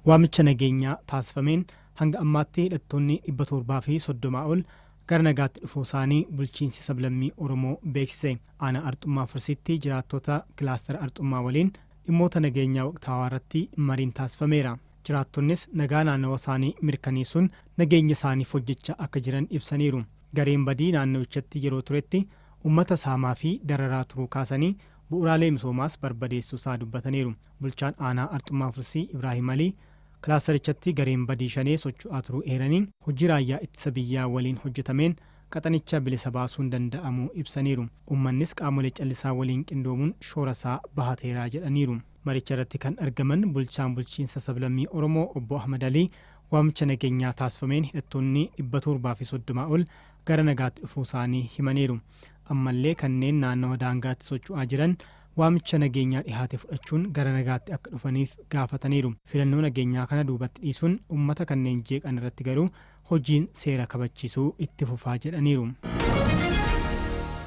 Waamicha nageenyaa taasifameen hanga ammaatti hidhattoonni 730 ol gara nagaatti dhufuusaanii bulchiinsi sablammii Oromoo beeksise. Aanaa Arxummaa Fursiitti jiraattota kilaastara Arxummaa waliin dhimmoota nageenyaa waqtaawaarratti mariin taasifameera. Jiraattonnis nagaa naannawasaanii mirkaneessuun nageenyasaaniif hojjechaa akka jiran ibsaniiru. Gareen badii naannawichatti yeroo turetti ummata saamaafi dararaa turuu kaasanii, bu'uraalee misoomaas barbadeessuusaa dubbataniiru. Bulchaan Aanaa Arxummaa Fursii Ibraahim Alii kilaasterichatti gareen badii shanee socho'aa turuu eeranii, hojii raayyaa ittisa biyyaa waliin hojjetameen qaxanicha bilisa baasuun danda'amuu ibsaniiru. Ummannis qaamolee callisaa waliin qindoomuun shoorasaa bahateera jedhaniiru. Maricharratti kan argaman bulchaan bulchiinsa sablammii Oromoo obbo Ahmad Alii, waamicha nageenyaa taasifameen hidhattoonni 730 ol gara nagaatti dhufuusaanii himaniiru. Ammallee kanneen naannawa daangaatti socho'aa jiran waamicha nageenyaa dhihaate fudhachuun gara nagaatti akka dhufaniif gaafataniiru. Filannoo nageenyaa kana duubatti dhiisuun ummata kanneen jeeqan irratti garuu hojiin seera kabachiisuu itti fufaa jedhaniiru.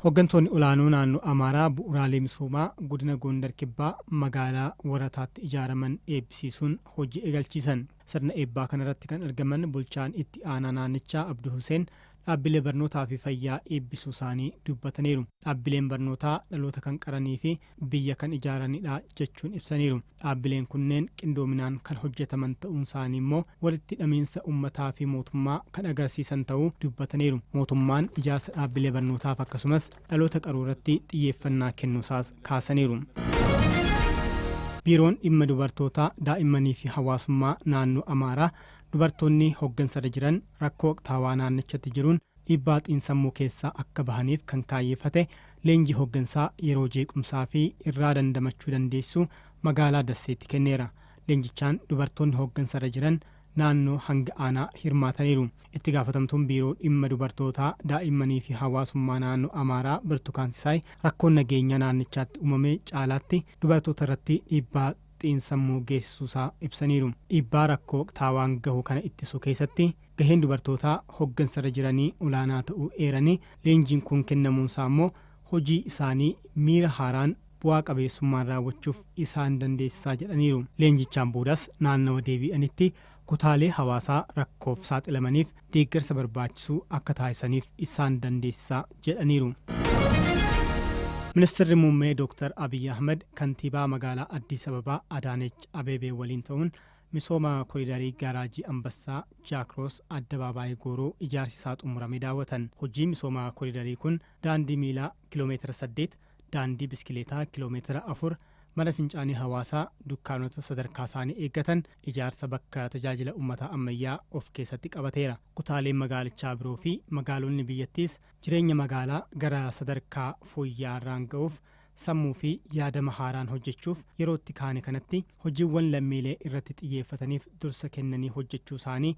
Hoggantoonni olaanoo naannoo Amaaraa bu'uraalee misoomaa godina Goondar Kibbaa magaalaa Warataatti ijaaraman eebbisiisuun hojii eegalchiisan. Sirna eebbaa kanarratti kan argaman bulchaan itti aanaa naannichaa Abdu Huseen dhaabbilee barnootaa fi fayyaa eebbisuusaanii dubbataniiru. Dhaabbileen barnootaa dhaloota kan qaranii fi biyya kan ijaaranidha jechuun ibsaniiru. Dhaabbileen kunneen qindoominaan kan hojjetaman ta'uunsaanii immoo walitti hidhamiinsa ummataa fi mootummaa kan agarsiisan ta'uu dubbataniiru. Mootummaan ijaarsa dhaabbilee barnootaaf akkasumas dhaloota qaruu irratti xiyyeeffannaa kennuusaas kaasaniiru. Biiroon Dhimma Dubartootaa, Daa'immaniifi Hawaasummaa Naannoo Amaaraa dubartoonni hoggansarra jiran rakkoo waqtaawaa naannichatti jiruun dhiibbaa xiinsammuu keessaa akka bahaniif kan kaayyeffate leenjii hoggansaa yeroo jeequmsaafi irraa dandamachuu dandeessisu magaalaa Dasseetti kenneera. Leenjichaan dubartoonni hoggansarra jiran naannoo hanga aanaa hirmaataniiru. Itti gaafatamtuun Biiroo Dhimma Dubartootaa, Daa'immaniifi Hawaasummaa Naannoo Amaaraa Birtukaan Sisaay rakkoon nageenyaa naannichaatti uumame caalaatti dubartootarratti dhiibbaa xiinsammuu geessisuusaa ibsaniiru. Dhiibbaa rakkoo waqtaawaan gahu kana ittisuu keessatti gaheen dubartootaa hoggansarra jiranii olaanaa ta'uu eeranii, leenjiin kun kennamuunsaa ammoo hojii isaanii miira haaraan bu'aa qabeessummaan raawwachuuf isaan dandeessisaa jedhaniiru. Leenjichaan boodas naannawa deebii'anitti kutaalee hawaasaa rakkoof saaxilamaniif deeggarsa barbaachisu akka taasisaniif isaan dandeessisa jedhaniiru. Ministirri Muummee Dooktar Abiy Ahimad Kantiibaa Magaalaa Addis Ababaa Adaanech Abeebee waliin ta'uun misooma koriidarii Gaaraajii Anbassaa, Jaakroos, Addabaabaayii Gooroo ijaarsi isaa xumurame daawwatan. Hojiin misooma koriidarii kun daandii miilaa km 8, daandii biskileetaa kiloomeetira 4, mana fincaanii hawaasaa, dukkaanota sadarkaasaanii eeggatan, ijaarsa bakka tajaajila ummataa ammayyaa of keessatti qabateera. Kutaaleen magaalichaa biroo fi magaalonni biyyattiis jireenya magaalaa gara sadarkaa fooyya'aarraan ga'uuf sammuu fi yaadama haaraan hojjechuuf yerootti kaane kanatti hojiiwwan lammiilee irratti xiyyeeffataniif dursa kennanii hojjechuusaanii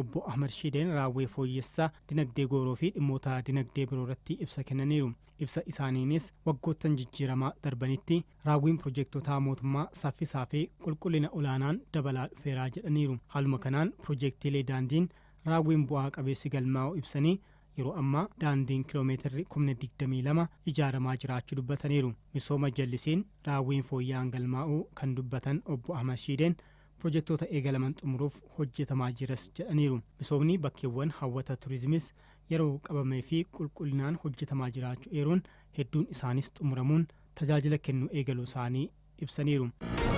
Obbo Ahmad Shiideen raawwii fooyyessa dinagdee gooroo fi dhimmoota dinagdee biroo irratti ibsa kennaniiru. Ibsa isaaniinis waggoottan jijjiiramaa darbanitti raawwiin pirojeektotaa mootummaa saffisaa fi qulqullina olaanaan dabalaa dhufeera jedhaniiru. Haaluma kanaan pirojeektiilee daandiin raawwiin bu'aa qabeessi galmaa'uu ibsanii, yeroo ammaa daandiin kiloomeetirri kumni 22 ijaaramaa jiraachuu dubbataniiru. Misooma jallisiin raawwiin fooyya'aan galmaa'uu kan dubbatan Obbo Ahmad Shiideen, Pirojektoota eegalaman xumuruuf hojjetamaa jiras jedhaniiru. Misoomni bakkeewwan hawwata turizimis yeroo qabamee fi qulqullinaan hojjetamaa jiraachu eeruun, hedduun isaanis xumuramuun tajaajila kennu eegaluusaanii ibsaniiru.